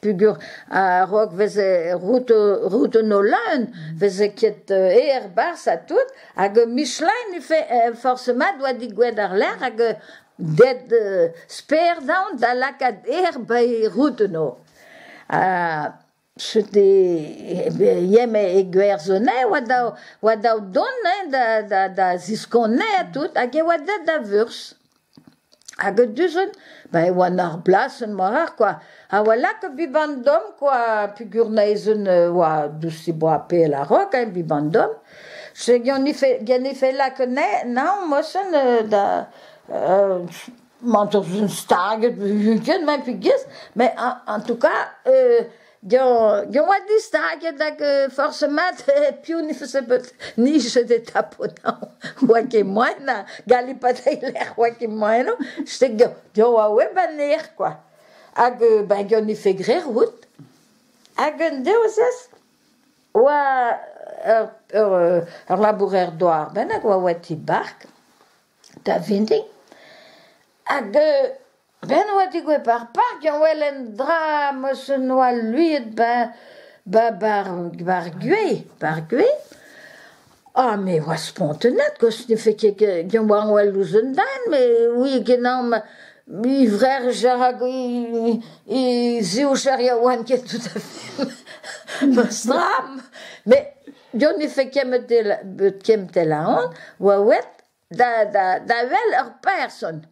peogwir a-raok veze roudoù-nolann veze ket aer 'barzh ha tout hag Michelin forc'hement doa digouet àr-lerc'h hag det sper dezhañ da lakaat aer 'ba e roudoù-noù. Cheuc'h eme e gwerzhonez oa dav dont da ziskonnez ha tout hag e oa deut da vurzh. Hag du-hont ba e oan ar blasenn-mañ kwa, a oa lakaet Vivandom kwa peogwir naezent oa douzh e boa pell a-raok hein Vivandom, se genefe lakaet naon moasen da mañ 'teus stag ugent hein pegwir, mais en tout cas Diañ diañ oa distaget hag forzh mat piv ne faose bet nijet e taponañ oa ket moaien na gallit pas treiñ lec'h oa ket moaien eo j'étais diañ oa web anezhañ kwa hag ben ganet e fait graet roud hag un devezh oa ur ur labourer douar bennak oa oa e ti bark da vintin hag Ben oa digouez ar park a wel un dra m'eus un oa luiet beñ ba bar bar gwez bar gwez ah mais oa spontennet kost ne fait ket ken oa wel ouzh un den mais oui genomp i vrerj a ra i zioucher yaouank ket tout a fait meus dramm mais deus ne fait ket bet ket tel aon oa wet da da da wel ur person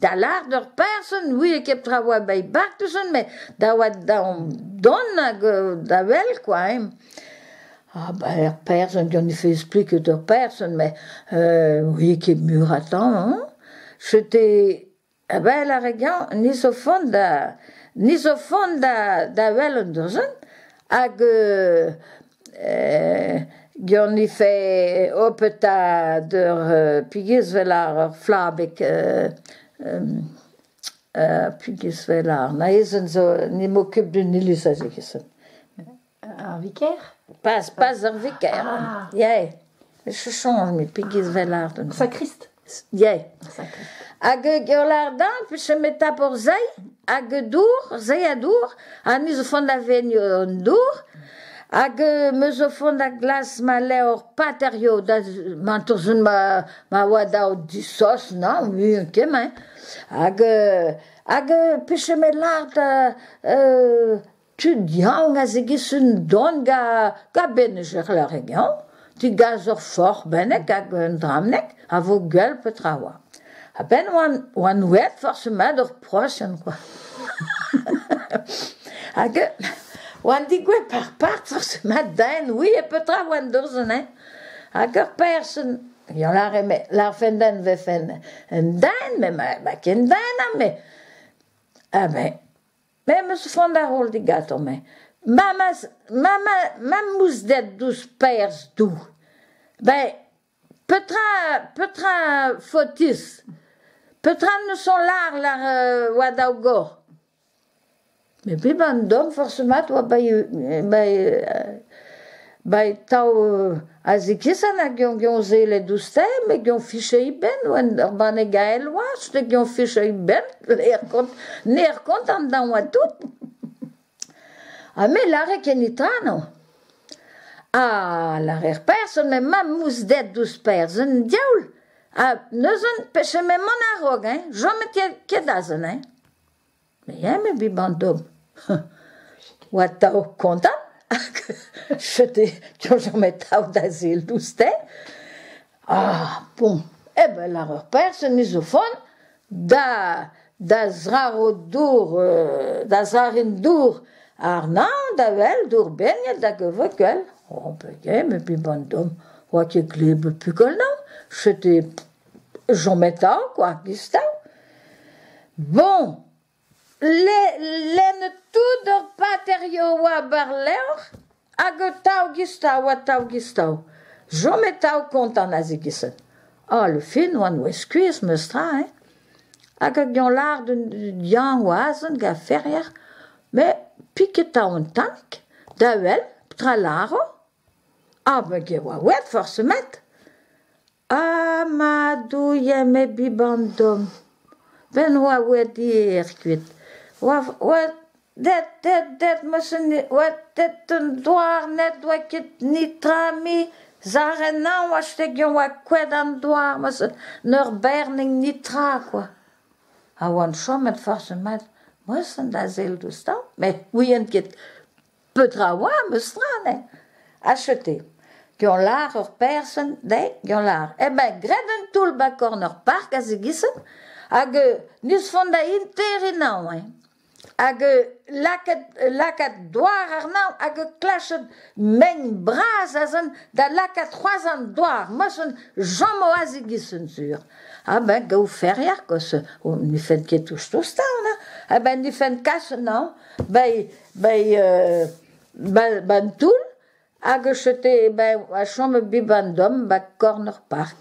da lâret ur person ne ouie ket petra oa bet bartuzon met da oa daomp don hag da wel kwa hein ah ben ur person on ne faise plus que ur person mais ouie ket mur a temps hein c'étais A-bell ar re gañv ni zo vont da ni zo vont da da wel un dozenn hag geon ni fait oh petad ur pegezh vel ar ur flabeg pegezh vel ar naezenn zo n'emañ ket d'un iliz aze Ar viker? Pas, pas ar viker. Ah. Yay. Je change, mais pegez vel art. Sakrist. Yay. Hag giolardan, puis je me tape or zei, hag dour, zei a dour, ha ni zo font da vegn an dour, hag me zo font da glas ma levr paterio da mantorzun ma, ma oa dao du sos, non, muian kem, hein. Hag, hag, puis je me lard, euh, tud yaouank a zegas un don gabennus er leur-region digas ur forc'h bennek hag un drabneg a vo gwell petra oa. A-benn oan, oan ouet forc'h-mat ur prosenn kwa. hag oan digouet par part forc'h-mat da en oui e petra oan dorzhen hein. Hag ur person, ya lâre me, lârfen den vefen un den, met ma, ma ken den ha me. Ha me, Me 'm eus c'hoant da roll digato-me. Mamaz, mama, mamousded douzh Paerzh Du. Ben, petra, petra faotuz ? Petra 'neus on lar lar oa daou gor ? Me bep an dorn forzh mat oa bai bai Ba atav a zikisent hag eo gant sellet ouzh-te met gant ficheiñ benn un banne gael oazh pe gant ficheiñ benn ner kont an daou ha tout. Ha me lâre ket netra no. Ha lârer person met mamousded ouzh person un diaoul ha neuzen pechet emañ mont a-raok eñ chomet ket azen eñ. Ya, me bet ba'n dom. Oa atav kontant hag je te jourjomp atav da sil doustet. Ah bon, eh ben lâr ur perzh en isofon da da zraro dour euh da zrarin dour arnañ da wel dour begnet hag a veukel. Oh ben ya, me bet ba'n dom. Oa ket glebet pukelnañ. Je te Jometa kwa goustav. Boñ, le- lennet tout d'ur paterioù a oa war-lerc'h hag atav goustav atav goustav. Jometav kontant a-zikichen. Ah le fin oan o skuizh meus tra hein. Hag a gañ lâr d'un diañ o azen gant ferier met piketañ un tammig da wel petra lâro. Ah ben ge oa wet forzh met. Ah ma douilh eme Bibandom, ben oa wedi êr kuit, oa oa det det det meus un oa det un douarned oa ket nitrami, zarrennañ oa stegen oa koed an douar meus un ur bernig nitra kwa, a oan chomet forzh mat meus an da sell douzhtañ met ouien ket. Petra a oa, ma straen? Achete. Gant lar ur person dezhi, gant lar. Eh ben, graet un toull 'ba korn ur park a zigichen hag n'eus font da intériñ anav eñ. Hag lakaat lakaat douar àrnav hag klashat mein bras azen da lakaat c'hoazh an douar. Mochen jamm o a zigichen sur. Ha ben gaou ferier, koz n'ifent ket touch tostañ, hein. Ha ben n'ifent kas anav, bei bei euh ba- ba'n toull hag e chete bei a chom e biban dom 'ba korn ur park.